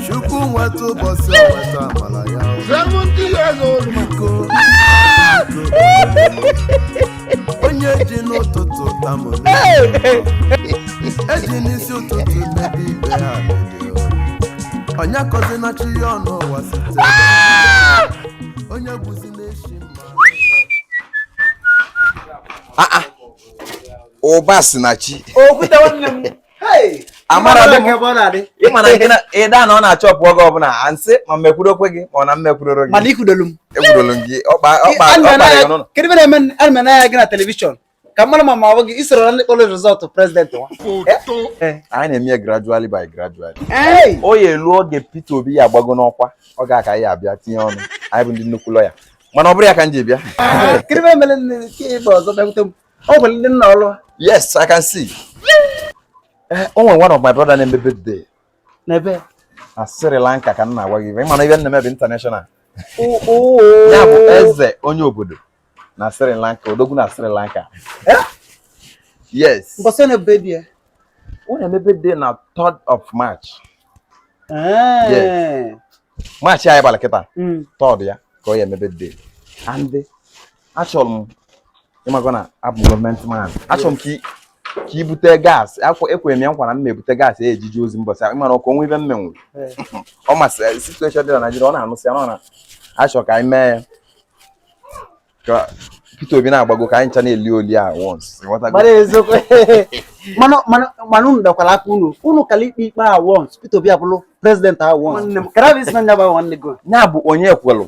chukwu nweta ụbọchị a nweta amala ya o. seventy years old man. biko onye ji n'ụtụtụ tamụ e ji n'isi ụtụtụ mebe ife ha mebie o. onye akọzina chi ya ọnụ ụwa site onye bụzi na-eshi mma ụba si na chi okwute nwanne m amara ị ma na gị ịda na ọ na-achọpụ oge ọbụla a sị ma m ekwuru okwu gị ma ọ na m ekwuroro gị ekwurolu m gị ọkpara gị na telivishọn ka mmadụ ma ma ọ bụ gị i soro na ndị kpọrọ result president nwa anyị na-eme ya gradually by gradually ọ ya-elu oge Peter Obi ya-agbago n'ọkwa ọ ga-aka ya abịa tinye ọnụ anyị bụ ndị nnukwu lawyer mana ọ bụrọ ya ka m ji bịa Ọ bụ ndị nna ọlụ. Yes, I can see. Eh, o nwere one of my brother na-eme birthday. N'ebe? Na Sri Lanka ka m na-agwa gị. Ị ma na ife m na-eme bụ international. Oh, oh. Ya bụ eze onye obodo na Sri Lanka, odogwu na Sri Lanka. Eh? Yes. Mbọsị na birthday ya? Ọ na-eme birthday na 3rd of March. Eh. Yes. March anyị bara kịta. 3rd hmm. ya ka ọ ya-eme birthday. And achọrọ m ị mago na abụ m government man achọrọ m ka i- ka i bute gas ahụ ekwere m ya nkwa na m na-ebute gas a ya-eji eje ozi mbọsị ahụ ị ma na ọkụ o nwe ife m menwuru Ee. ọ masịrị situation dị na Nigeria ọ na-anụsị ya na ọ na-achọ ka anyị mee ya ka Peter Obi na-agbago ka anyị ncha na-eli oli at once ị ghọtago? Mara eziokwu. mana mana mana unu dakwara aka unu unu kala ikpe ikpe at once Peter Obi abụrụ president at once nwanne m karabis na nyaba nwanne go ya bụ onye kwelụ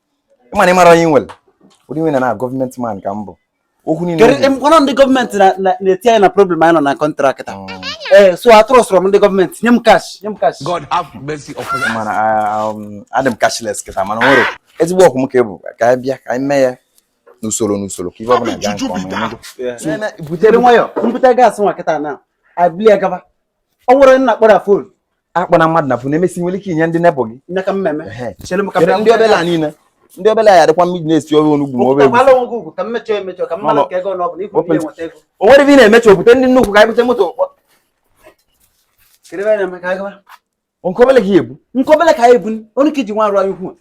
ị ma na ị mara onye nwere ụdị nwere na government man ka m bụ okwu niile kedu mkpọrọ ndị government na-etinye anyị na problem anyị nọ na country taa mm. ee eh, so atụrụ sọrọ m ndị government nye m cash nye m cash God have mercy upon you mana ah, um, adị m cashless kịta mana nwere ezigbo ọkwụ m ka ị bụ ka anyị bịa ka anyị mee ya n'usoro n'usoro ka ife ọbụla gaa nke ọma butere nwayọ m bute gas nwa kịta na abili ya gaba o nwere nna kpọrọ phone akpọ na mmadụ na phone emesịa nwere ike inye ndị nebụ gị ndị obele a niile ndị obele a ya dịkwa mmiri na-esi ofe onugbu ma obegwu o nwere ife ị na-emecha opụta ndị nnukwu ka ebute moto nke obele ka ya ebu nke obele ka ya ebu onye ka i ji nwa arụ anyị ukwu